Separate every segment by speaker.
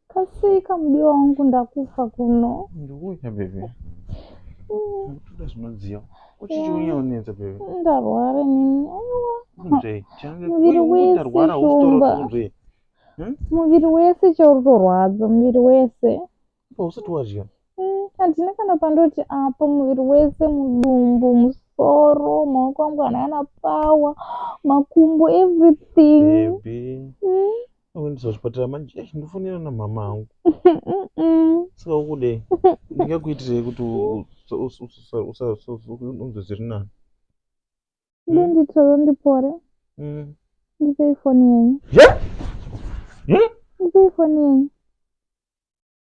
Speaker 1: Kasika mudiwa wangu ndakufa kuno. Ndikuuya baby.
Speaker 2: Ndikuda zvinodziya. Uchichiuya unenza baby. Ndarwara nini.
Speaker 1: Aiwa. Kunzve.
Speaker 2: Muviri
Speaker 1: wese shumba. Hmm? Muviri wese chauri torwadza muviri wese. Apa usati wadya.
Speaker 2: Hmm, handina kana
Speaker 1: pandoti apa muviri wese mudumbu musoro maoko angu anana power makumbo everything. Baby. Hmm?
Speaker 2: Unoendeswa kuchipatara manje eish ndofonera namhama hangu saka ukudei ndingakuitirei kuti unzwe zviri nani ndinditoro
Speaker 1: ndipore mm. ndipei foni yenyu ndipei foni yenyu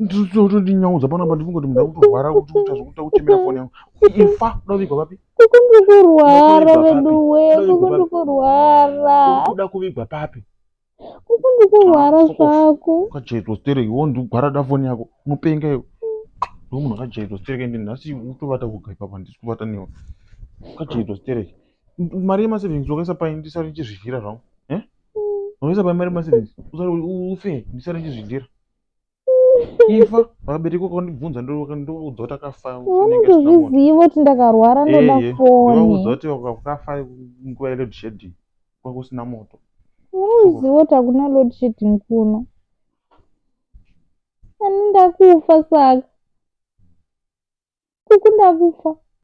Speaker 1: ndinyaudza
Speaker 2: pano apa ndinongoti munhu akutorwara kuti kuita zvekuita kuchemera foni yangu ifa kuda kuvigwa papi kukundikurwara
Speaker 1: veduwe kukundikurwara kuda kuvigwa
Speaker 2: papi kukundikurwara
Speaker 1: ah, zvako kajaitwa stereki wo
Speaker 2: ndigwarada foni yako mupenga iwe ndo munhu akajaitwa stereki ende nhasi utovata kuga ipapa handisi kuvata newe kajaitwa stereki mari yemasavings wakaisa pai ndisari ndichizvidlira zvangu eh? mm. wakaisa pai mari yemasavings usari ufe ndisari ndichizvidlira ifa vabereki vakandibvunza ndovaudzwa kuti akafa unozviziva
Speaker 1: kuti ndakarwara ndoda fonivaudza kuti vakafa
Speaker 2: nguva yeload shedding kwa kusina moto unozviziva
Speaker 1: kuti hakuna load shedding kuno ani ndakufa saka kuku ndakufa